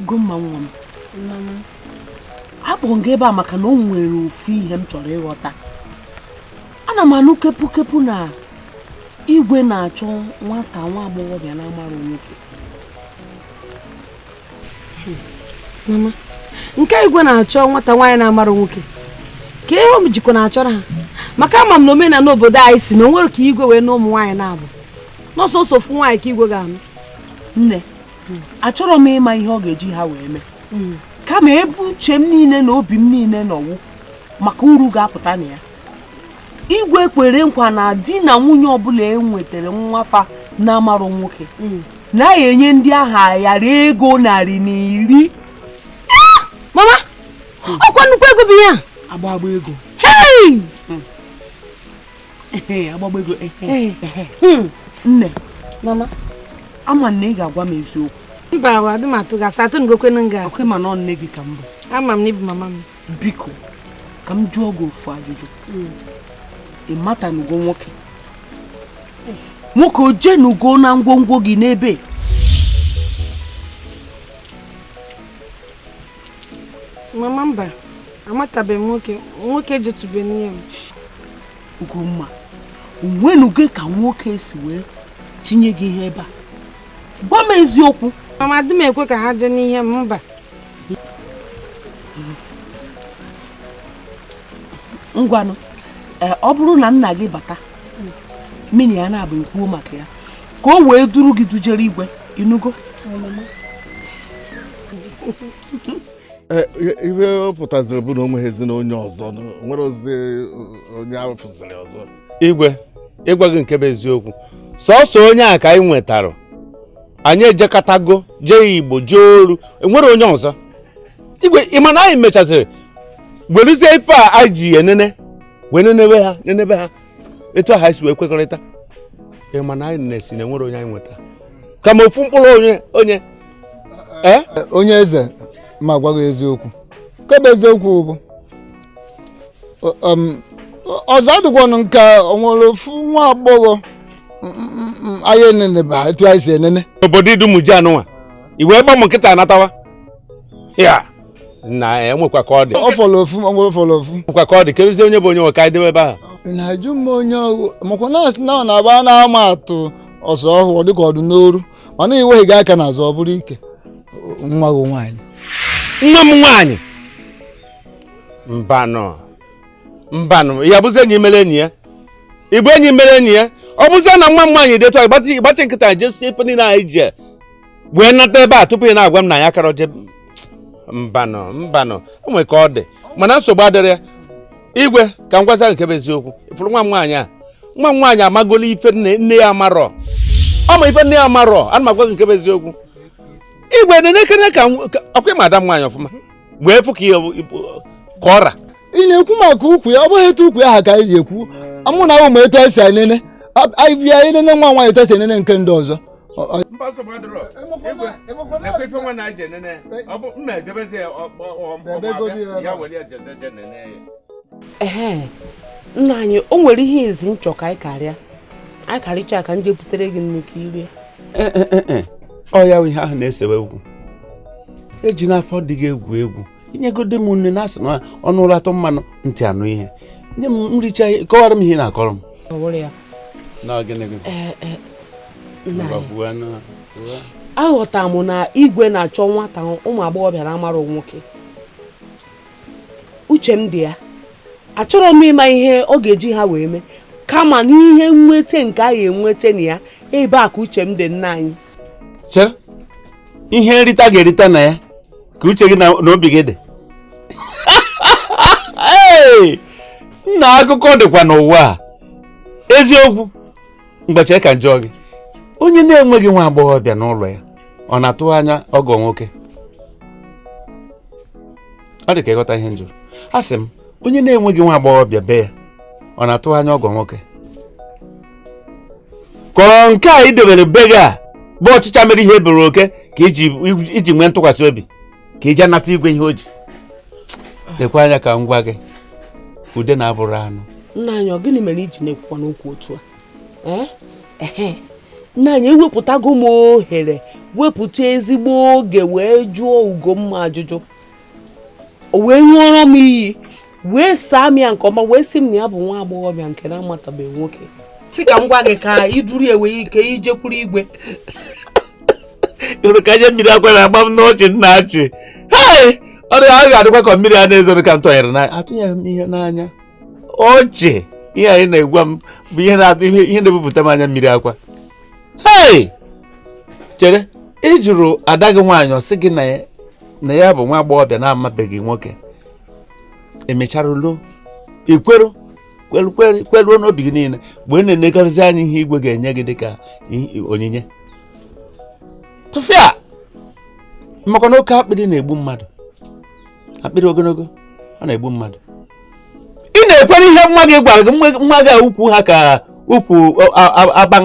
Ugomma nwa m akpọrọ m gị ebe a maka na o nwere ofu ihe m chọrọ ịghọta ana m anụ kepukepu na igwe na-achọ nwata nwa agbọghọbịa na-amara nwoke mama nke igwe na-achọ nwata nwaanyị na-amara nwoke kee ihe o jikwa na-achọrọ ha maka ama m na omenala obodo anyị sị na o nwere ka igwe wee nụ ụmụ nwaanyị naabọ na ọ sọsọ ofu nwaanyị ka igwe ga-anụ nne achọrọ m ịma ihe ọ ga-eji ha wee mee kama ebe uche m niile na obi m niile nọ wụ maka uru ga-apụta na ya igwe kwere nkwa na di na nwunye ọbụla e nwetara nwa fa na-amarụ nwoke na ya enye ndị ahụ ayara ego narị na iri ah! mama ọkwa nnukwu ego bụ ya agbagba ego agbagba ego hmm. nne mama ama m na ị ga-agwa m eziokwu mba ahụ adị m atụ gị asị atụnugokwanụ m gị asị ọkwa ị ma na nne gị ka m bụ ama m na ị bụ mama m biko ka m jụọ gị ofu ajụjụ hmm. ị matanugo nwoke nwoke o jenugo na ngwongwo gị n'ebe mama mba amatabeghị nwoke nwoke ejetube n'ihe m ugomma o nwenugo ka nwoke si wee tinye gị ihe ebe a gwa m eziokwu mama adị m ekwe ka ha jee n'ihe m mba ngwanụ eh, ọ bụrụ na nna gị bata mụ na ya naabọ ekwuo maka ya ka o wee duru gị dujere igwe ị nụgo eh, ihe ọ pụtaziri bụ na o nweghịzi onye ọzọ o nwerọzi eh, onye a fụziri ọzọ igwe ịgwa gị nke bụ eziokwu sọsọ onye a ka anyị nwetara anyị ejekatago jee igbo jee oru e nwerọ onye ọzọ igwe ị ma na anyị mechaziri weluzie ife a anyị ji enene wee nenewe ha nenebe ha etu anyị si wee kwekọrịta ị ma na anyị na-esi na e nwerọ onye anyị nweta kama ofu mkpụrụ onye onye eh? Eh, onye eze ma gwa gị eziokwu nke bụ eziokwu bụ um, ọzọ adịkwanụ nke o nwere ofu nwa agbọghọ mm, mm, mm, anyị enenebe etu anyị si enene obodo Idumuji a nụnwa i wee gba m nkịtị anatawa ya na enwekwa ka ọ dị ọ fọrọ ofu o nwere fọrọ ofu nwekwa ka ọ dị keduzie onye bụ onye nwe ka anyị jebe ebe ahụ ị na-ajụ m onye ọ wụ makwa na a sị na ọ na-agba a na-ama atụ ọsụ ọ dịka ọ dụ n'oru mana i wega aka n'azụ ọ bụrụ ike nwa gị nwaanyị nwa m nwaanyị mbanụ mbanụ ya bụzi enyi mere enyi ya ị bụ enyi mere enyi ya ọ bụzie na nwa m nwaanyị detu anyị gbachi nkịtị jesie ife niile anyị ji wee nata ebe a tupu ị na-agwa m na ya akarọ eje mbanụ mbanụ o nwere ka ọ dị mana nsogbu adịrọ ya igwe ka m gwazie gị nke bụ eziokwu ịfụrụ nwa m nwaanyị a nwa m nwaanyị amagolo ife nne ya amarọ ọ ma ife nne ya amarọ ana m agwa gị nke bụ eziokwu igwe nenekene ka m- ka- ọkwa ịma ada m nwaanyị ọfụma wee fụ ka ihe ọ bụ- ka ọ ra ị na-ekwu maka ukwu ya ọ bụghị etu ukwu ya ha ka anyị ji ekwu amụ na ahụ ma etu anyị si enene anyị bịa enene nwa nwaanyị etu esi enene nke ndị ọzọ mba nsogbu adịrọ ekwe ife nwa na aje nene ọ bụ mma edebezi ya ya were ya jeze je nene ya ehe nna anyị o nwere ihe ezi m chọ ka anyị karịa anyị karịcha ka m je butere gị nni ka i rie eh, eh, eh, ọ ya ihe ahụ na-esewe egwu eji n'afọ adịghị egwu egwu i nyegodu m nni na asị na ọnụ lata mmanụ ntị anụ ihe nye m m richaa kọwara m ihe ị na-akọrọ m aghọtara m na igwe na-achọ nwata ụmụ agbọghọbịa na-amarọ nwoke uche m adịghị ya achọrọ m ịma ihe ọ ga-eji ha wee mee kama n'ihe nweta nke a ga-enweta na ya ebe a ka uche m dị nna anyị chere ihe nrita ị ga-erita na ya ka uche gị na obi gị dị nna akụkọ dịkwa n'ụwa a eziokwu ngwa chere ka m jụọ gị onye na-enweghị nwa agbọghọbịa n'ụlọ ya ọ na-atụ anya ọgọ nwoke ọ dị ka ị ghọtaghị ihe m jụrụ asị m onye na-enweghị nwa agbọghọbịa be ya ọ na-atụ anya ọgọ nwoke ka ọ bụrụ nke a i dobere be gị a bụ ọchịcha mere ihe e boro oke ka i ji nwee ntụkwasị obi ka i je nata igwe ihe o ji lekwa anya ka m gwa gị udene abụrọ anụ nna anyị ọ gịnị mere iji na-ekwukwa n'okwu otu a Eh? Ehe. nna anyị ewepụtago m ohere wepụta ezigbo oge wee jụọ ugomma ajụjụ o wee ṅụọrọ m iyi wee saa m ya nke ọma wee sị m na ya bụ nwa agbọghọbịa nke na-amatabeghị nwoke si ka m gwa gị ka iduru ewe ike ijekwuru igwe ịhụrụ ka anya mmiri akwa na-agba m n'ọchị m na-achị ọrịa ahụ ga-adịkwa ka mmiri a na-ezoro ka m tụnyere n'anya atụnyerọ m ihe n'anya ọchị ihe a ị na-agwa m bụ ihe na-ebupụta m anya mmiri akwa hei chere ị jụrụ ada gị nwaanyị ọ sị gị na ya na ya bụ nwa agbọghọbịa na-amabeghị nwoke emechara luo i kwere kweruo n'obi gị niile mgbe ị na-enegharịzi anya ihe igwe ga-enye gị dịka onyinye tụfịa maka na oke akpịrị na-egbu mmadụ akpịrị ogologo ọ na-egbu mmadụ ị na-ekwere ihe nwa gị gwara gị nwa gị ukwu ha ka ukwu aban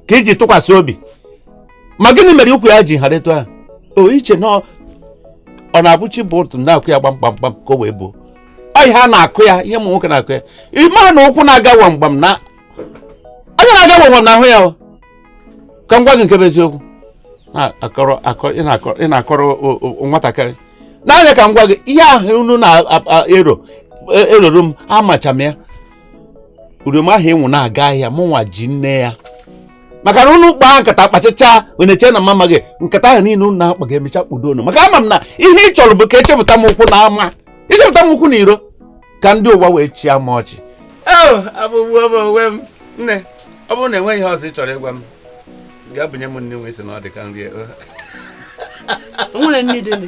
ka iji tụkwasị obi ma gịnị mere ukwu ya ji hara etu ahụ o i che na ọ ọ na-abụ chi bọọ otu na-akụ ya gbamgbamgbam ka o wee buo ọ ihe a na-akụ ya ihe ụmụ nwoke na-akụ ya ị ma na ụkwụ na-aga wamgbam na anya na-aga wamgbam na-ahụ ya o. ka m gwa gị nke bụ eziokwu ị na-akọrọ nwatakịrị n'anya ka m gwa gị ihe ahụ unu na-eroro m amacha m ya uriom ahụ ị hụ na-aga ahịa mụnwa ji nne ya maka na unu kpaa nkata kpachichaa wee na-eche na m amaghị nkata ahụ niile unu na-akpa ga-emecha kpudo unu maka ama m na ihe ị chọrọ bụ ka i chepụta m ụkwụ n'ama i chepụta m ụkwụ n'iro ka ndị ụwa wee chịa m ọchị abụgbuo m onwe m nne ọ bụrụ na enweghị ihe ọzọ ị chọrọ ịgwa m gaa bunye m nri nwe si na ọ dị ka nri nwere nne dịnị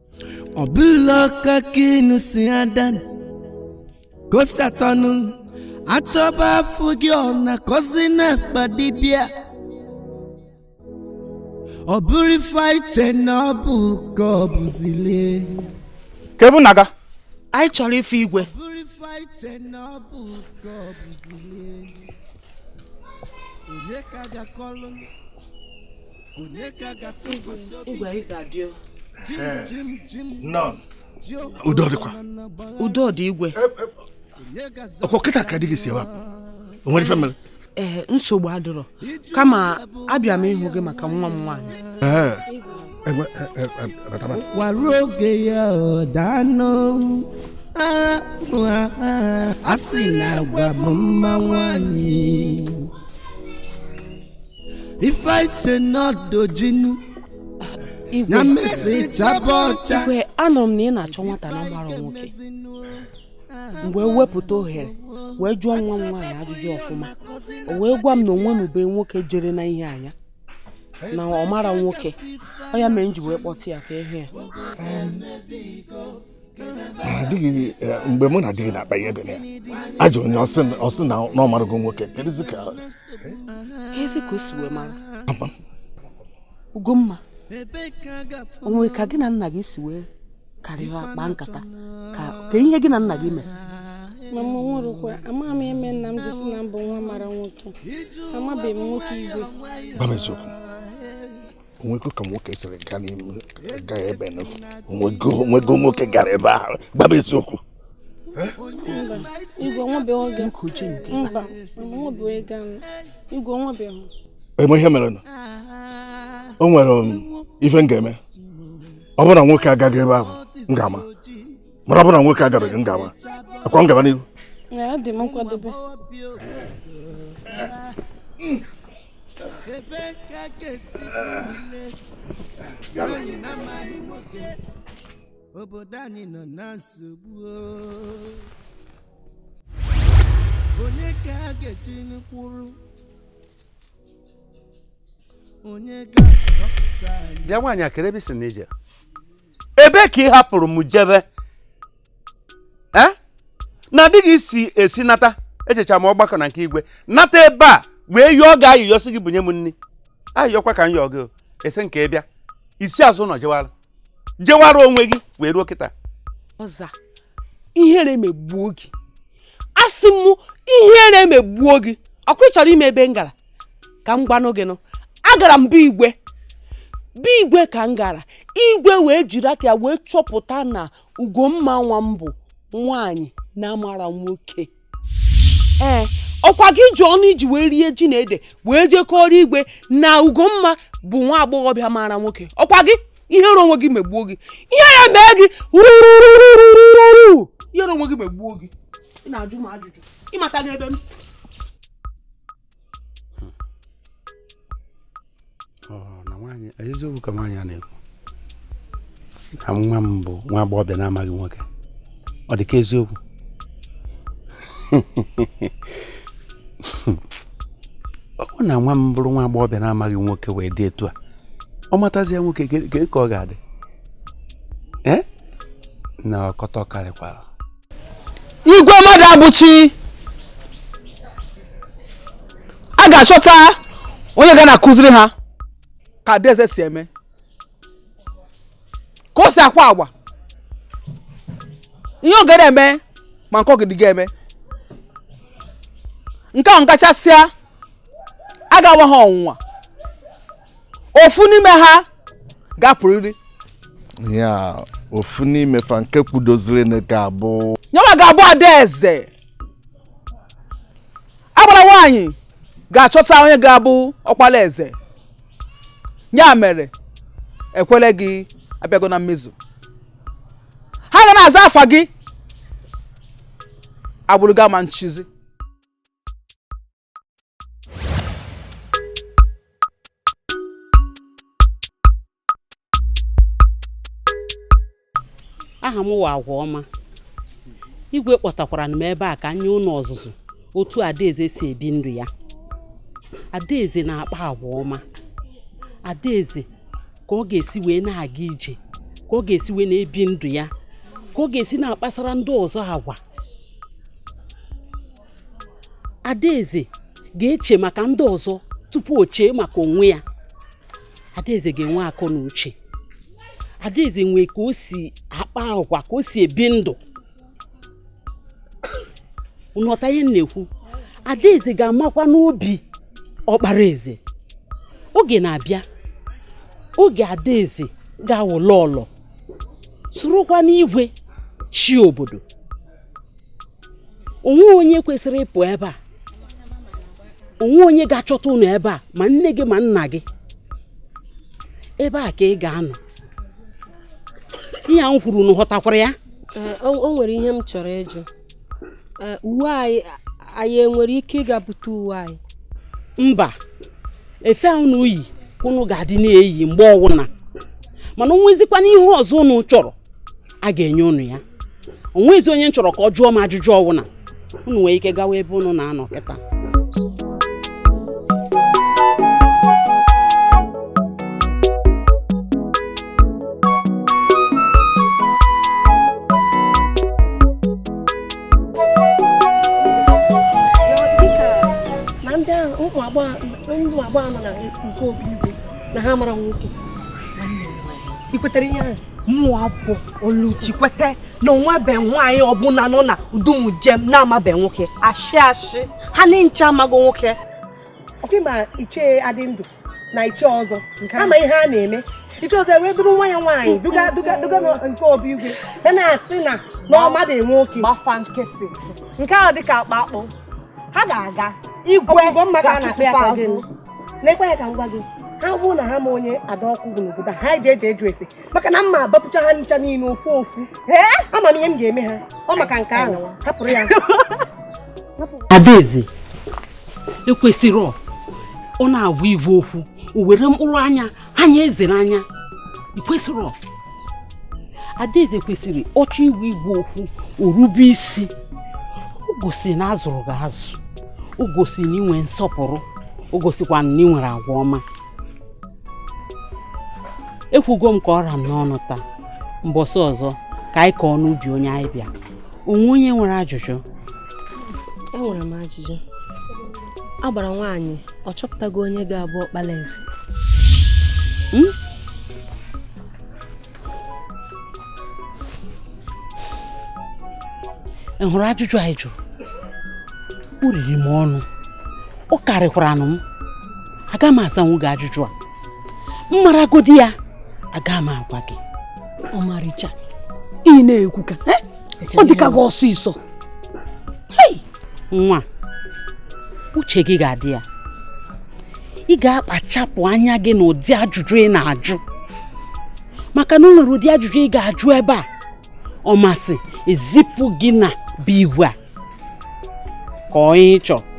ọ bụla ọka ka inu si ada kosatọnụ a chọba afụghị ọ na-akọzi n'akpa dibịa ọ bụrụ ife anyị che na ọ bụ ka ọ bụzile kebu naga anyị chọrọ ife igwe bụrụ ife anyị che na ọ bụ ka ọ bụzile onye ka ga-akọlụ udo dịkwa udo dị igwe ọkwa kịta ka di gị si ebe a o nwere ife mere ee eh, nsogbu adịrọ kama abịa m ịhụ gị maka nwa m nwaanyị eh, eh, ụkwa ruo oge ya ọ daanụ a sị na agwa bụ mma nwaanyị Ife i che na ọ dị oji nu, na-emesi chaba ọcha. igwe anụrụ m na ị na-achọ nwata na-amarọ nwoke m wee wepụta ohere wee jụọ nwa m nwaanyị ajụjụ ọfụma o wee gwa m na o nwenube nwoke jere n'ihe ya na ọ marọ nwoke ọ ya mere m ji wee kpọta ya ka ị hụ ya di gị eh, mgbe mụ na di gị na-akpa ihe dị na ya ajụọ m ya ọ sị na ọ marago nwoke kedụzi ka ezi ka o si wee mara Ugomma o nwe ka gị na nna gị si wee karịa kpaa nkata ka ihe gị na nna gị mere mama o nwerọkwa amaghị m ihe mere nna m ji si na mụ nwa mara nwoke amabeghị m nwoke igwe o nwego ka nwoke siri gaa n'ime gaa ebe o nwego nwoke gara ebe ahụ gwa m eziokwu ị ma ihe mere o nwere um, ife m ga-eme ọ bụrụ na nwoke agago ebe ahụ m ga-ama mana ọ bụrụ na nwoke agabeghị m ga-ama ọkwa m gaba n'ihu obodo anyị nọ na nsogbu o. onye ka a ga-etikwuru onye ga-azọpụta anyị bịa nwaanyị a kedụ ebe i si na ije ebe ka ị hapụrụ m jebe Eh? na adịghị isi esi nata ejechaa m ọgbakọ na nke igwe nata ebe a wee yọọ gị ayịyọ sị gị bunye m nri ayịyọkwa ka m yọọ gị o. ị sị m ka ị bịa i si azụ ụlọ jewara jewara onwe gị wee ruo kịta ọza ihere megbuo gị asị m ihere megbuo gị ọkwa ị chọrọ ịma ebe m gara ka m gwanụ gị nụ agara m be igwe be igwe ka m gara igwe wee jiri aka ya wee chọpụta na ugomma nwa m bụ nwaanyị na-amarọ nwoke ee ọkwa gị ji ọnụ i ji wee rie ji na ede wee jee kọọrọ igwe na ugomma bụ nwa agbọghọbịa mara nwoke ọkwa gị ihere onwe gị megbuo gị ihere mee gị ihere onwe gị megbuo gị ị na-ajụ m ajụjụ ị matago ebe m eziokwu ka nwaanyị a na-ekwu na nwa m bụ nwa agbọghọbịa na-amaghị nwoke ọ dị ka eziokwu ọ bụ na nwa m bụrụ nwa agbọghọbịa na-amaghị nwoke wee dị etu a ọ matazie nwoke kee ka ọ ga-adị ee na ọkọtọ karịkwara igwe mmadụabụchi a ga-achọta onye ga na-akụziri ha ka adaeze si eme ka o si akpa agwa ihe ọ ga na-eme ma nke ọ ga-adịghị eme nke ahụ gachasịa a ga-anwa ha ọnwụnwa ofu n'ime ha ga-apụrịrị ya ofu n'ime fa nke kwudoziri na ga-abụ nya nwa ga-abụ adaeze agbara nwaanyị ga-achọta onye ga-abụ ọkpala eze ya mere ekpele gị abịago na mmezu ha ga na-aza afa gị agbụrụ gị ama nchizi aha m wụ agwa ọma igwe kpọtakwara m ebe a ka m nye ụnụ ọzụzụ otu adaeze si ebi ndụ ya adaeze na-akpa agwa ọma adaeze ka ọ ga-esi wee na-aga ije ka ọ ga-esi wee na-ebi ndụ ya ka ọ ga-esi na-akpasara ndị ọzọ agwa adaeze ga-eche maka ndị ọzọ tupu o chee maka onwe ya adaeze ga-enwe akọ na uche adaeze nwee ka o si akpa agwa ka o si ebi ndụ unu ghọta ihe m na-ekwu adaeze ga-amakwa n'obi ọkpara eze oge na-abịa oge adaeze ga-awụ lọọlọ sorokwanụ igwe chị obodo onwe onye kwesịrị ịpụ ebe a onwe onye ga-achọta unu ebe a ma nne gị ma nna gị ebe a ka ị ga-anọ ihe m kwuru unu ghọtakwara ya eh, o nwere ihe m chọrọ ịjụ eh, uwe anyị anyị enwere ike ịga bute uwe anyị mba efe a unu yi unu ga-adị na-eyi mgbe ọwụna mana o nwezikwanụ ihe ọzọ unu chọrọ a ga-enye unu ya onwezi onye m chọrọ ka ọ jụọ m ajụjụ ọwụna unu nwere ike gawa ebe unu na-anọ kịta ụmụ agbọghọ nọ na nke obi igwe na ha amarọ nwoke i kwetere ihe ahụ mụwa bụ oluchi ekwete na o nwebe nwaanyị ọbụla nọ na udumujem na-amabe nwoke ashị ashị ha ncha amago nwoke ọkwa ị ma ichie adịndụ na ichie ọzọ a ma ihe a na-eme ichie ọzọ ewee duru nwa ya nwaanyị duga duga duga nke obi igwe ya na-asị na ọ madị nwoke gba fa nkịtị nke ahụ dịka akpa akpụ ha ga-aga igwe ga-achụpụ azụ lekwa ya ka m gwa gị ha bụrụ na ha ma onye ada ọkụ bụ n'obodo a eji eji ajụ ese maka na m ma abapụcha ha ncha niile ofu ofu ama m ihe m ga-eme ha ọ maka nke ahụ hapụrụ ya adaeze ekwesịrọ ọ na-agwa igwe okwu o were mkpụrụ anya anya eze n'anya i kwesịrị adaeze kwesịrị ọ chọọ ịgwa igwe okwu o rube isi o gosi na a zụrụ gị azụ o gosi na i nwe nsọpụrụ o gosikwa na ị nwere agwa ọma ekwugo m ka ọ ra m n'ọnụ taa mbọsị ọzọ ka anyị kọọ n'ubi onye anyị bịa onwe onye nwere ajụjụ enwere m ajụjụ agbara nwaanyị ọ chọpụtago onye ga-abụ ọkpala eze hmm? ị hụrụ ajụjụ a ị jụrụ o riri m ọnụ ọ karịkwaranụ m aga m azanwu gị ajụjụ a m maragodi ya aga m agwa gị ọmarịcha ị na-ekwu ka ọ dịka gị ọsịsọ nwa uche gị ga-adị ya ị ga-akpachapụ anya gị na ụdị ajụjụ ị na-ajụ maka na o nwere ụdị ajụjụ ị ga-ajụ ebe a ọ masị ezipụ gị na be igwe a ka onye ị chọrọ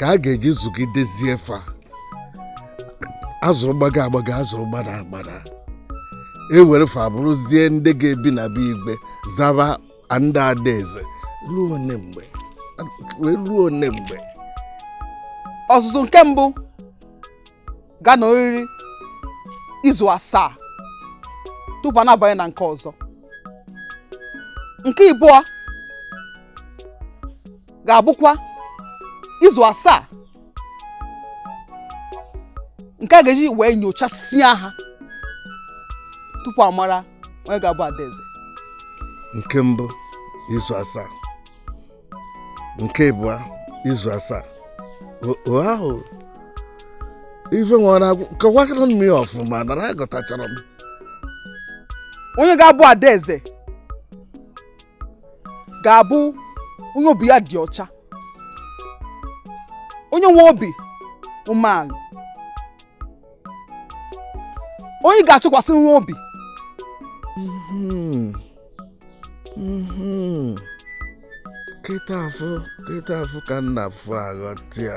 ka a ga-eji zụgidezie fa a zụrụ gbago agbago a zụrụ gbada agbada e were fa bụrụzie ndị ga-ebi na be igwe zaba ndị adaeze ruo one mgbe wee ruo one mgbe ọzụzụ nke mbụ ga-anọriri izu asaa tupu a na-abanye na nke ọzọ nke ịbụọ ga-abụkwa izu asaa nke a ga-eji wee nyochasịa ha tupu a mara onye ga-abụ adaeze nke mbụ izu asaa nke ịbụa izu asaa o ahụ ife nwere kọwakwara m ya ọfụma na aghọtacharọ m onye ga-abụ adaeze ga-abụ onye obi ya dị ọcha onye nwe obi umeala onye ị ga-atụkwasịnwu obi mhm. Mhm. kịta afụ kịta afụ ka m na-afụ aghọta ya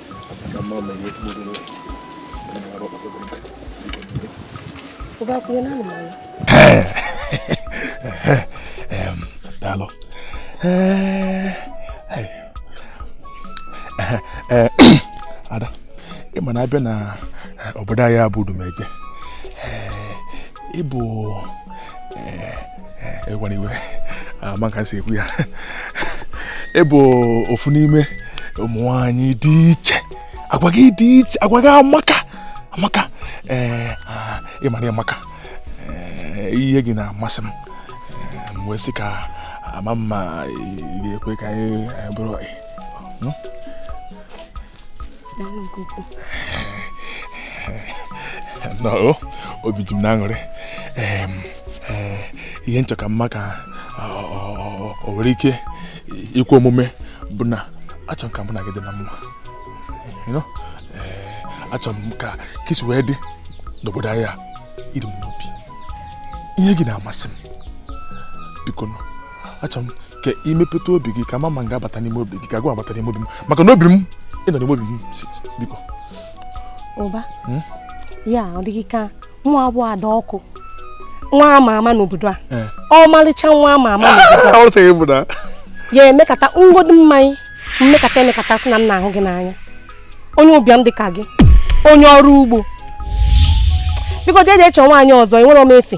daalụ ada ị ma na a bịa na obodo anyị a bụ Udumeje ị bụ ịgwana iwe ama ka e si ekwu ya ị bụ ofu n'ime ụmụ nwanyị dị iche agwa gị dị iche agwa gị amaka amaka ee ị mara amaka ihe gị na-amasị m m wee sị ka m ma ma ị ga-ekwe ka anyị bụrụ nọọ obi ji m na aṅụrị eh, ihe m chọ ka m ma ka o nwere ike ikwe omume bụ na achọ m ka mụ na gị dị na mma eh, achọ m ka ka i si wee dị n'obodo anyị a i ri m n'obi ihe gị na-amasị m bikonụ achọrọ m ka i mepeta obi gị ka m ma ma m ga-abata n'ime obi gị ka gịwa abata n'ime obi m maka na obi m ị nọ n'ime obi m biko ụba hmm? ya ọ dị gị ka nwa bụ adakụ nwa ama ama n'obodo a eh. ọmalịcha nwa ama ama n'obodo a ya emekata ṅụọdu mmanya m mekata emekata sị na m na-ahụ gị n'anya onye ụbịam dị ka gị onye ọrụ ugbo biko jeje chọọ nwaanyị ọzọ enwerọ m efe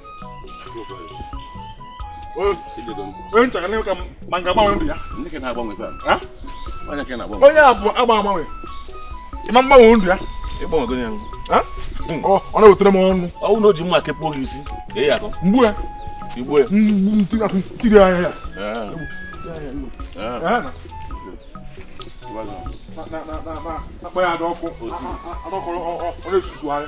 onye a bụ agba agbanwe ịma mgbanwe ndụ ya ọ na-ewetara m ọṅụ ọ bụ na o ji mma kpụọ gị isi mgbu ya igbu ya tiri anya ya akpa ya adọkụ ọ na-esusu anya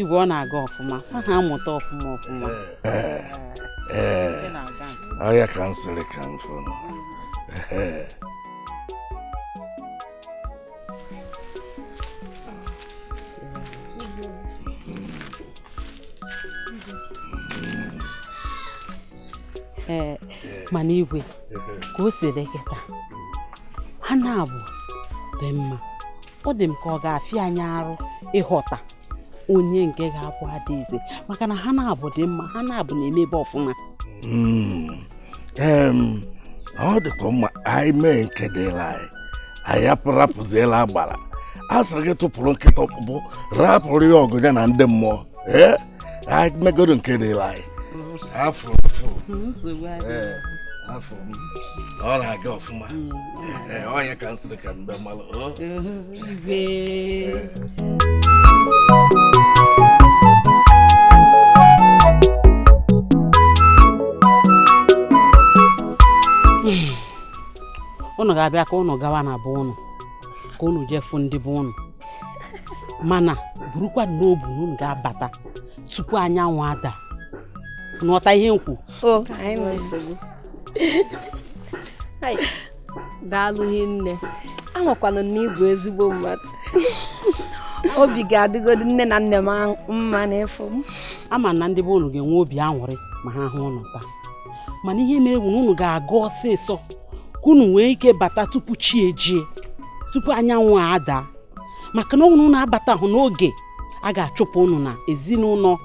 igwe ọ na-aga ọfụma ha na-amụta ọfụma ọfụma ihe a ka m sịrị ka m fụnụ ee mana igwe ka o si dị kịta ha naabọ dị mma ọ dị m ka ọ ga-afịa anyị arụ ịghọta onye nke ga-abụ adaeze maka na ha naabọ dị mma ha naabọ na-emebe ọfụma hmm. ọ dịkwa mma anyị mee nke dịlị anyị anyị arapụzielụ agbara a sịrị gị tụpụrụ nkịta ọkpụkpụ rapụrụ ya ọgụ ya na ndị mmụọ ee anyị megoro nke dịlị anyị afọ afọ ọ na-aga ọfụma hmm. ọ nya ka m sịrị ka m bịa malụ ụnụ ga-abịa ka ụnụ gawa na be ụnụ ka ụnụ jee fụ ndị be ụnụ mana burukwa n'obu na ụnụ ga-abata tupu anyanwụ ada ụnụ ghọta ihe m kwu daalụ hinne amakwa m na ị bụ ezigbo mmadụ obi ga-adịgodi nne na nna m mma n'ịfụ m ama m na ndị be unu ga-enwe obi aṅụrị ma ha hụ unu taa mana ihe mere bụ na unu ga-aga ọsịsọ ka unu nwee ike bata tupu chi ejie tupu anyanwụ adaa maka na ọ bụrụ na unu abatahụ n'oge a ga-achụpụ unu n'ezinụlọ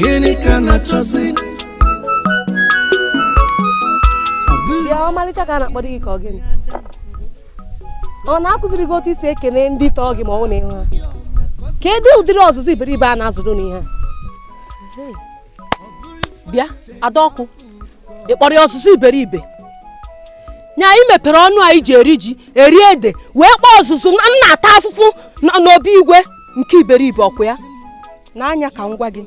gịnị ka a na-achọzi bịa ọmalịcha ka a na-akpọdo gị ka ọ gịnị ọ na-akụziri gị otu e si ekene ndị tọọ gị ma ọ na ị hụ ha kedu ụdịrị ọzụzụ iberibe a na-azụdụ unu ihe a bịa adaọkụ ị kpọrọ ya ọzụzụ iberibe nya ị mepere ọnụ a ị ji eri ji eri ede wee kpọọ ọzụzụ m na-ata afụfụ n'obi igwe nke iberibe ọkwa ya nee anya ka m gwa gị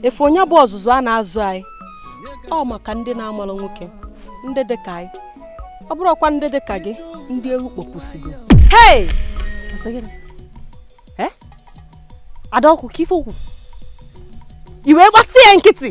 ife onye bụ ọzụzụ a na-azụ anyị ọ maka ndị na-amarọ nwoke ndị dị ka anyị ọ bụrọkwa ndị dị ka gị ndị ewu kpọpụsigo hei eh? adaọkụ ka ife okwu i wee gbasị ya nkịtị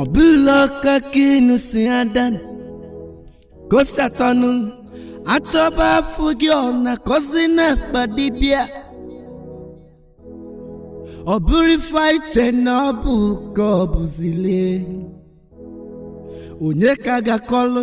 ọ bụla ọka ka inu si ada kosatọnụ achọba afụghị ọ na-akọzi n'akpa dibịa ọ bụrụ ife anyị che na ọ bụ ka ọ bụzile onye ka a ga-akọlụ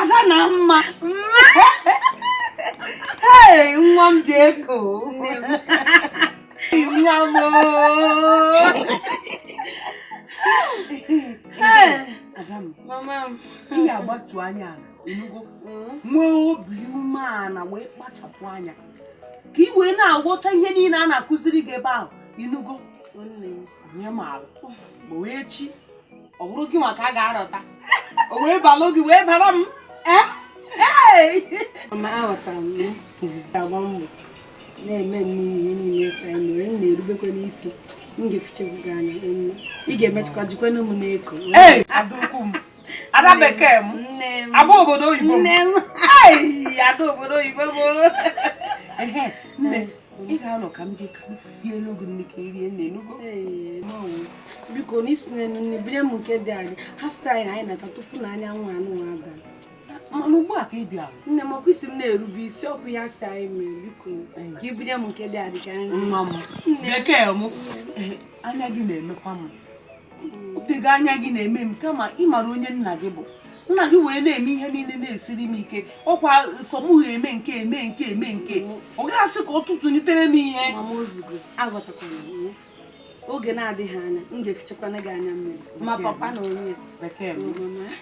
ada na mma ee nwa m ji eko nwa m ị ga-agbatu anya ala ị nụgo mm. nwee obi umeala wee kpachapụ anya ka ị wee na-aghọta ihe niile a na-akụziri gị ebe ahụ ị nụgo nye maala ma wee chi ọ bụrụ gị nwa ka a ga-arọta o wee balụ gị wee bara m eh? mama aghọtara m m ga-agba mbọ na-eme ihe niile a sị mee m na-erubekwa isi m ga-efichakwa gị anya ị ga-emechakwa jikwanụ mụ na-eko ada bekee m ada obodo oyibo m ada obodo oyibo m nne ị ga-anọ ka m bịa ka m sielu gị nni ka i rie nni ị nụgo biko na isi n'elu nne bire m nke dị anyị ha site anyị na anyị na-ata tupu na anyanwụ anụ nwa abalị mana ugbu a ka ị bịara nne m ọkwa ị sị m na-erube isi ọkụ ya si anyị mere biko ka ị bụnye m nke dị adị ka nri nwa m bekee m anya gị na-emekwa m dịga anya gị na-eme m kama ị mara onye nna gị bụ nna gị wee na-eme ihe niile na-esiri m ike ọkwa sọ mụ eme nke eme nke eme nke ọ ga-asị ka ọ tụtụlitere m ihe oge na-adịghị anya m ga-efichakwana gị anya mmiri ma papa na onye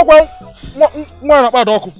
ọkwa nwa na-akpa ada ọkụ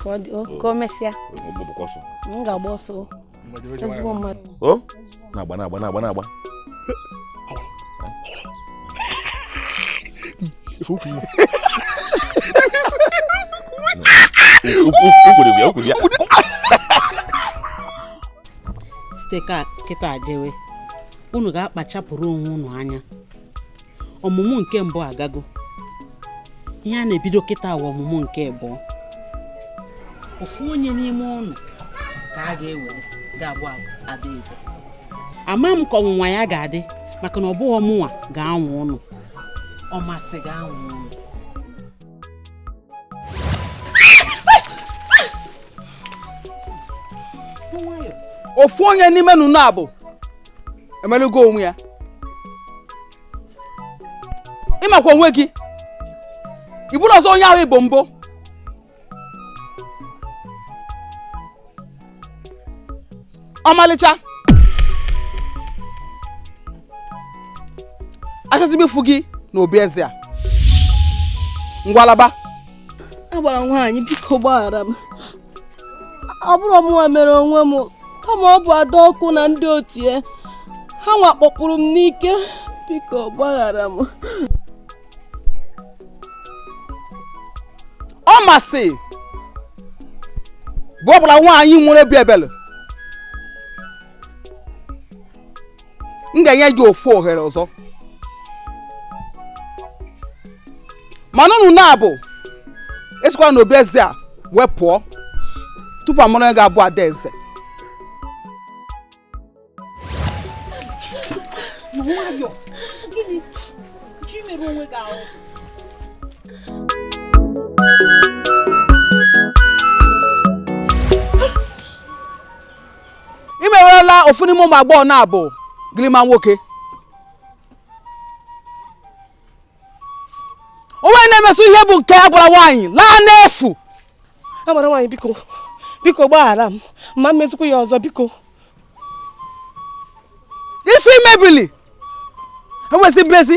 ka ọ dị ka o mesịa m ga-agba ọsọ ezigbo mmadụ o na-agba na-agba na-agba na-agba site kịta jewe unu ga-akpachapụrụ onwe unu anya ọmụmụ nke mbụ agago ihe a na-ebido kịta awa ọmụmụ nke abụọ ofu onye n'ime unu ka a ga-ewere ga-abụ adaeze ama m ka ọnwụnwa ya ga-adị maka na ọ bụghị mụnwa ga-anwa unu ọmasị ga-anwa unu ofu onye n'ime unu abụọ emelugo onwe ya ị makwa onwe gị ị bụrọ ọzọ onye ahụ ị bụ mbụ ọmalịcha achọzi m ịfụ gị na obi eze a ngwa laba agbara nwaanyị biko gbaghara m ọ bụrọ mụnwa mere onwe m kama ọ bụ ada ọkụ na ndị otu ya ha nwa kpọpụrụ m n'ike biko gbaghara m ọmasị bụ agbara nwaanyị nwere obi ebele m ga-enye gị ofu ohere ọzọ mana unu naabọ esikwala n'obi eze a wee pụọ tupu a mara onye ga-abụ ada eze i merụla ofu n'ime ụmụ agbọghọ na-abụ gịrịma nwoke onwe na-emesị ihe bụ nke agbara nwaanyị laa n'efu agbara nwaanyị biko biko gbaghara m ama m emezikwu ya ọzọ biko ife i mebili enwezi mmezi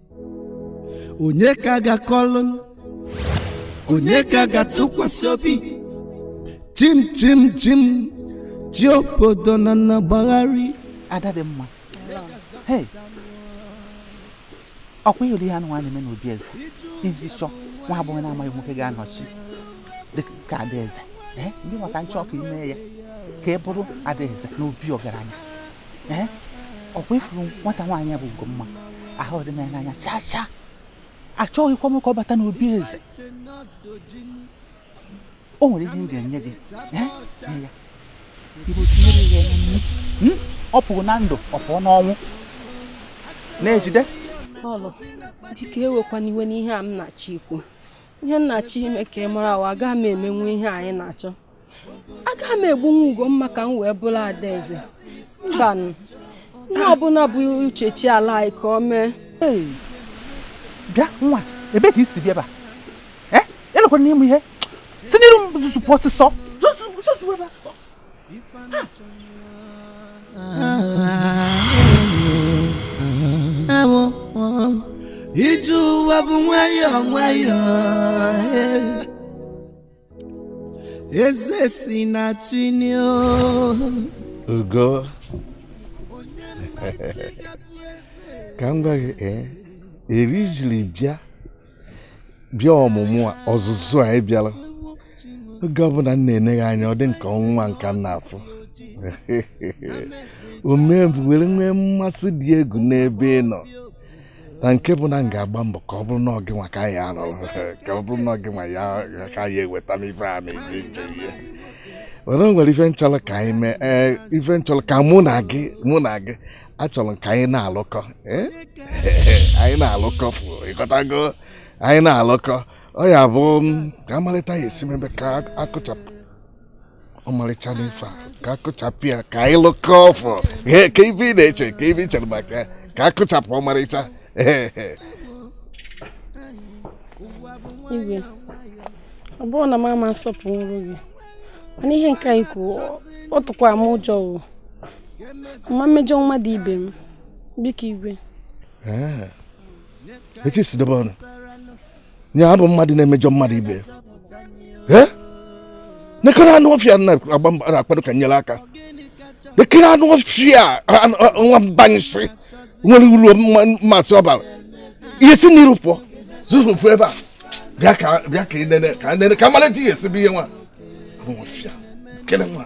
onye ka ga-akọlụ onye ka ga-atụkwasị obi tim tim tim ti obodo na na gbagharị ada dị mma hey ọkwa ị hụrụ ihe anụnwa na-eme n'obi eze iji chọ nwa agbọghọ na-amaghị nwoke ga-anọchi dị ka adaeze ee ndị maka nchọ ka i mee ya ka ị bụrụ adaeze n'obi ọgaranya ee ọkwa ị fụrụ nwata nwaanyị bụ Ugomma ahụdị m ya n'anya chaa chaa achọghịkwa m ka ọ bata n'obi eze o nwere ihe m ga-enye gị ee nye ya ibo tinyere ya ya nnu Hmm? ọ pụrụ na ndụ ọ pụọ n'ọnwụ na-ejide Lọlọ biko ewekwana iwe n'ihe a m na-achọ ikwu ihe m na-achọ ime ka ị mara wa agaghị m emenwu ihe a ị na-achọ agaghị m egbunwu Ugomma ka m wee bụrụ adaeze mbanụ ihe ọbụla bụ uche chi ala anyị ka o mee bịa nwa ebe ka i si bịa ebe a lekwanụ m ihe si n'iru m zuzu pụọ ọsịsọ ije ụwa bụ nwayọọ nwayọọ eze si na tinio ugo ka m gwa gị ee eri i jiri bịa bịa ọmụmụ a ọzụzụ a ị bịara oge ọbụla m na-ene gị anya ọ dị m ka ọnwa ka m na-afụ o mee m were nwee mmasị dị egwu n'ebe ị nọ na nke bụ na m ga-agba mbọ ka ọ bụrụ na ọ gị nwa ka a ya-arọ ka ọ bụrụ na ọ gị nwa ka a ya-eweta n'ife a na-eji nche ihe were nwere ife m chọrọ ka anyị mee ee ife m chọrọ ka mụ na gị mụ na gị achọrọ m ka anyị na-alụkọ anyị na-alụkọ ị ghọtago anyị na-alụkọ ọ ya bụ ka a malụ etu a ya-esi mebe ka a kụchapụ Ọmarịcha n'ife a ka a kụchapụ ya ka anyị lụkọ ọfọ kee ife ị na-eche kee ife ị chere maka ya ka a kụchapụ Ọmarịcha igwe ọ bụrọ na m ama asọpụrụ gị mana ihe nke a i kwuru ọ tụkwa m ụjọ o ama m emejọ mmadụ ibe m biko igwe echi si dobe ọnụ ya abụ mmadụ na-emejọ mmadụ ibe ya nekere anụ ọfịa na-agba mbọ na-akwado ka m nyere aka nekere anụ ọfịa nwa mbanyịsị nwere uru mmasị ọbara ihe si n'iru m pụọ zuzu fụọ ebe a bịa ka bịa ka ị nene ka nene ka m malụ etu ị ya-esi bụ ihe nwa ọfịa kele nwa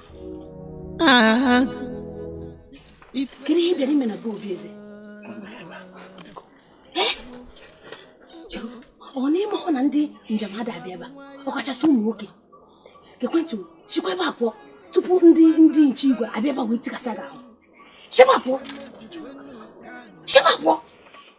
Ah, kedu ihe ị bịara ime na be obi eze Eh? Chero, ọ na ị marọ na ndị njem ada abịa ebe a ọkachasị ụmụ nwoke ekwentị m, sikwa ebe a pụọ tupu ndị ndị nche igwe abịa ebe a wee tikasịa gị ahụ sikwa pụọ sikwa pụọ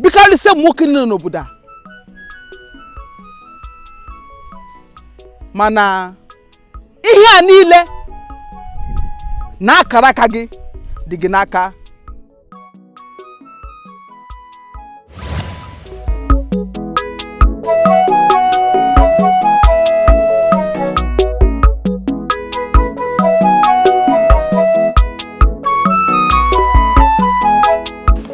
bikarịsịa ụmụ nwoke niile n'obodo a mana ihe a niile na akara aka gị dị gị n'aka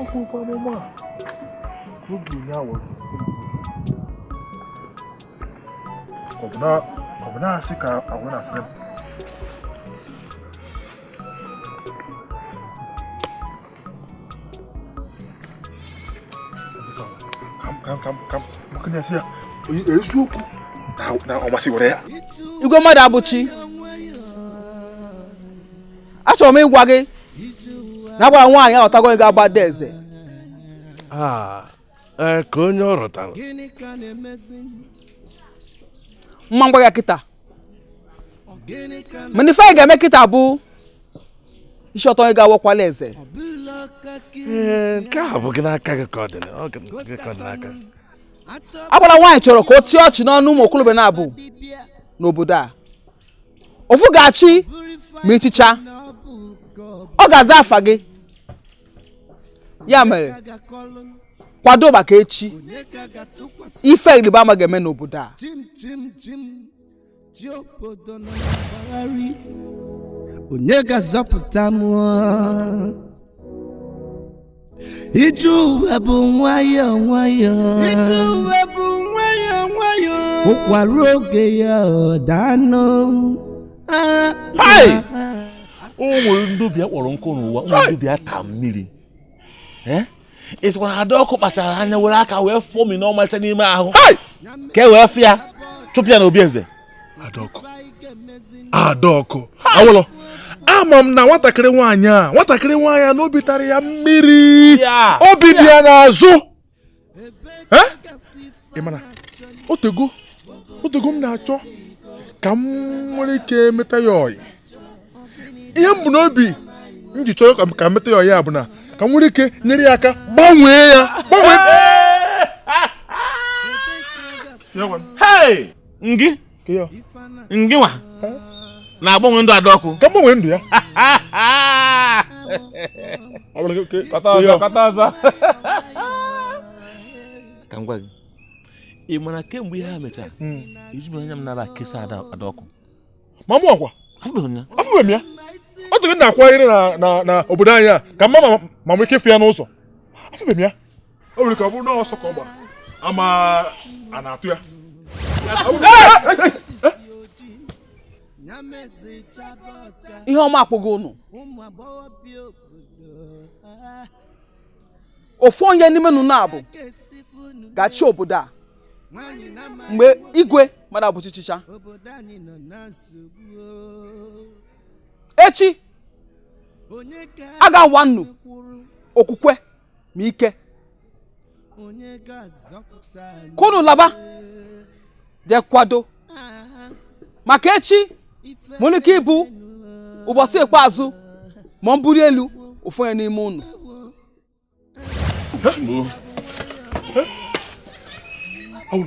ọ bụ ụgbọ amụma a ka oge ihe awọ ọ bụ na-asị ka agwa na-asị eziokwu na ọ masịwara ya igwe mmadụ abụ chi achọrọ m ịgwa gị na agbara nwaanyị aghọtago ego agbada eze ah, eh, ka onye ọ rụtara mma ngwa ya kịta mana ife anyị ga-eme kịta bụ isi ọtọ ga awọkwala eze eh, nke a bụ gị n'aka gị ka ọ dị n'aka agbara nwaanyị chọrọ ka o tie ọchị n'ọnụ ụmụ okorobịa na agbọghọ n'obodo a ofu ga-achị ma ị chịchaa ọ ga-aza afa gị ya mere kwado maka echi ife ịrịba ama ga-eme n'obodo a onye ga-azọpụta m Ije ụwa bụ nwayọọ nwayọọ. Ije ụwa bụ nwayọọ nwayọọ. Ụkwa ruo oge ya ọ daa nụ. Ah, Hai! ah, ah. o nwere ndị obi ha kpọrọ nkụ n'ụwa nwee ndị obi ha tara mmiri Eh? ị sịkwa na Adaọkụ kpachara anya were aka wee fụọ mi n'ọmalịcha n'ime ahụ ka e wee fịa chụpụ ya na obi eze adaọkụ adaọkụ awụlọ ama m na nwatakịrị nwaanyị a nwatakịrị nwaanyị a n'obi tara ya mmiri obi dị ya n'azụ eh mana otego otego m na-achọ ka m nwere ike meta ya ọyị ihe m bu n'obi m ji chọrọ ka m meta ya ọyị a bụ na ka m nwere ike nyere ya aka gbanwee ya gbanwee ngị Kịọ. ngị nwa na-agbanwe ndụ Adaọkụ ka m gbanwe ndụ ya Ọ bụrụ ka- ka- kọta ọzọ kọta ọzọ ka m gwa gị ị mara kemgbe ihe a mechara Mm. ejibụ anya m nara kesa Ada Adaọkụ ma mụ ọkwa afụbeghị m ya afụbeghị m ya ọ tụrụ na-akwagharị na na- na obodo anyị a ka m ma ma- ma nwee ike ịfụ ya n'ụzọ afụbeghị m ya o nwere ike ọ bụrụ na ọsọ ka ọ gbara ama a na-atụ ya ihe ọma akpọgo unu ofu onye n'ime unu naabọ ga-achị obodo a mgbe igwe Madụabụchi chịchaa echi a ga-anwa unu okwukwe ma ike ka unu laba jee kwado maka echi nwere ike ịbụ ụbọchị ikpeazụ ma m buru elu ofu onye n'ime unu Chimo. Oh.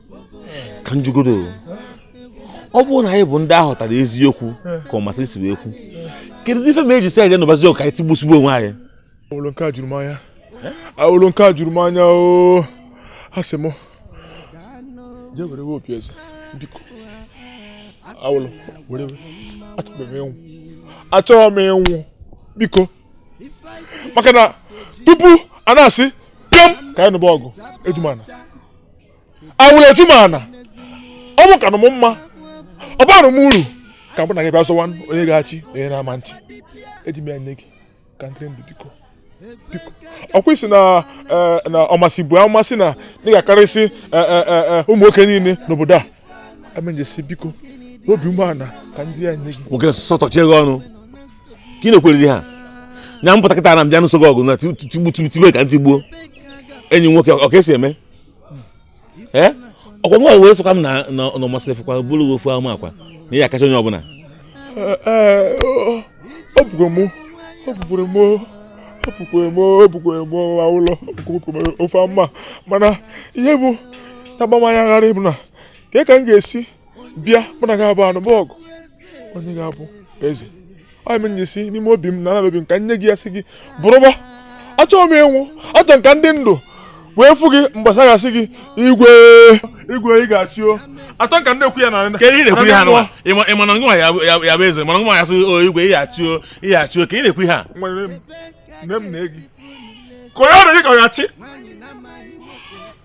ka m jụgodu ọ bụrụ na anyị bụ ndị ahụtara eziokwu ka Ọmasịrị si wee kwu kedu ife ma e ji sị anyị nụbazi ọgụ ka anyị tigbusigbu onwe anyị awụlụ nke a juru m anya awụlụ nke a juru m anya o asị m jee were we opi eze biko awụlụ were we achọrọ m ịnwụ achọrọ m ịnwụ biko maka na tupu a na-asị kem ka anyị nụba ọgụ eji m ana Awụlụ eji m ana ọ bụ kanụ m mma ọ barụ m uru ka mụ na gị bịa zọwa onye ga-achị onye na-ama achị eji m ya nye gị ka m dịrị ndụ biko biko ọkwa ị sị na eh, na Ọmasịrị bu ama sị na ị ga-akarịsị eh, eh, eh, eh, ụmụ nwoke niile n'obodo a amenjesi biko n'obi umeala ka m ji ya nye gị nwoke sọtọchie gị ọnụ ka ị na-ekwere di ha nya m pụta kịta na m bịa nụso gị ọgụ na tigbu tigbu tibe ka m tigbuo enyi m nwoke ọ ka e si eme ee ọkwa nwa wee sịkwa m na na Ọmasịrị fụkwa buru gị ofu ama akwa na ị ya-akacha onye ọbụla ọ bụkwa mụ ọ bụkwara mụ ọ bụkwara mụ ọ bụkwara mụ ụlọ ofu ama mana ihe bụ na-agba m anya gharịị bụ na ka ka m ga-esi bịa mụ na gị abụọ anụba ọgụ onye ga-abụ eze ọ m nyesi n'ime obi m na ana obi m ka m nye gị ya sị gị bụrụba achọghị m ịnwụ achọ m ka m dị ndụ wee fụ gị mgbe a ga-asị gị igwe igwe ị ga-achị o atọ ka na-ekwu ya na ka ị na-ekwu ihe a nwa ị ma na nwa ya-abụ eze mana nwa ya-asị o igwe ị ga-achị o ị ga-achị o ka ị na-ekwu ihe a nne m na-egi ka onye ọrụ gị ka ọ ga-achị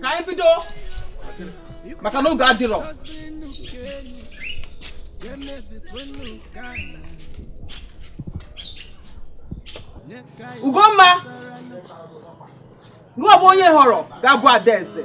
ka anyị bido maka na oge adịrọ Ugomma gị bụ onye họrọ ga-abụ adaeze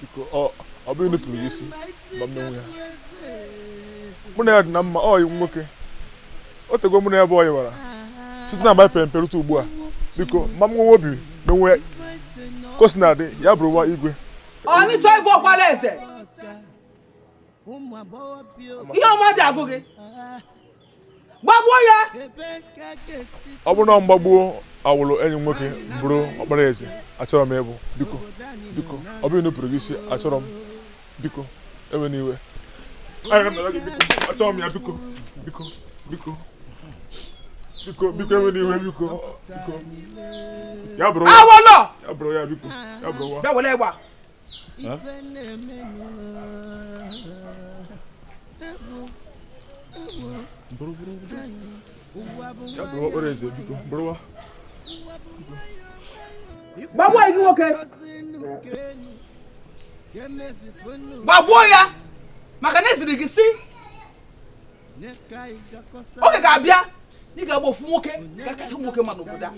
biko ọ bụrọ inupụrụ gị isi ma m menwu ya mụ na ya dị na mma ọyị m nwoke o tego mụ na ya bụ ọyị wara site na mgbe pere rute ugbu a biko ma m nwewe obi menwu ka o si na-adị ya bụrụ nwa igwe onye chọọ ịbụ ọkwara eze ihe ọma dị agụ gị gbagbuo ya ọ bụrụ na m gbagbuo Awụlụ enyi nwoke m bụrụ ọkpara eze achọrọ m ịbụ biko biko ọ bụrọ inupụrụ gị isi achọrọ m biko ewena iwe achọrọ m ya biko biko biko biko biko ewena iwe biko biko ya bụrụ ya bụrụ ya biko ya bụrụ wa gbagbuo ọyị gị nwoke gbagbuo ya maka na e ziri gị sị oge ga-abịa ị ga-agba ofu nwoke ga-akasị nwoke mma n'obodo a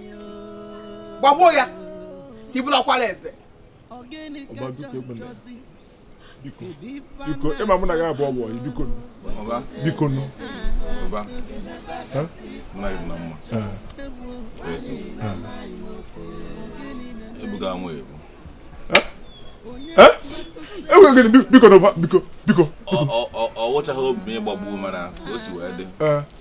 gbagbuo ya ka ị bụrụ ọkwara eze biko ị ma mụ na gị abụọ bụ biko biko nụ ebuga nwa ebu enwere gịnị biko biko biko ọ wụchaghị obi m ịgbagbu mana ka o si wee dị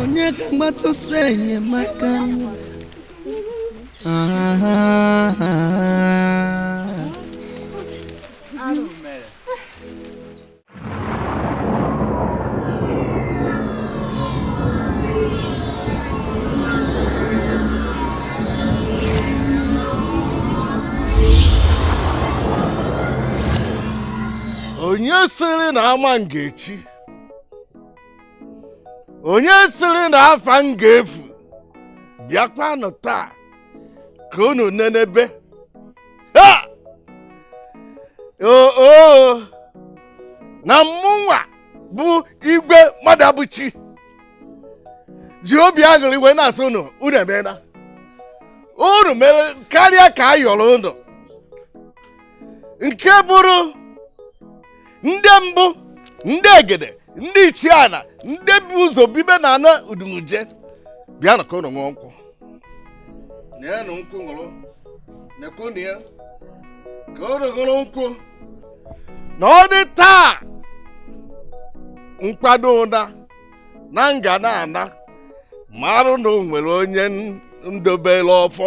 onye ka m gbatụsa enyemaka onye sịrị na ama m ga-echi onye sịrị na afa m ga-efu bịakwanụ taa ka unu nenebe ha oo na mmụnwa bụ igwe Mmadụabụchi ji obi aṅụrị wee na-asị unu unu emeela unu mere karịa ka a yọrọ unu nke bụrụ ndị mbụ ndị egede ndị ichie ana ndị bu ụzọ bibe na ana udumuje bịanụ ka ụnụ ṅụọ nkwụ nenụ nkwụ ṅụrụ nekwunu ya ka ụnụ ṅụrụ nkwụ na ọ dị taa nkwado ụda na nga na ana marụ na o nwere onye ndobere ọfọ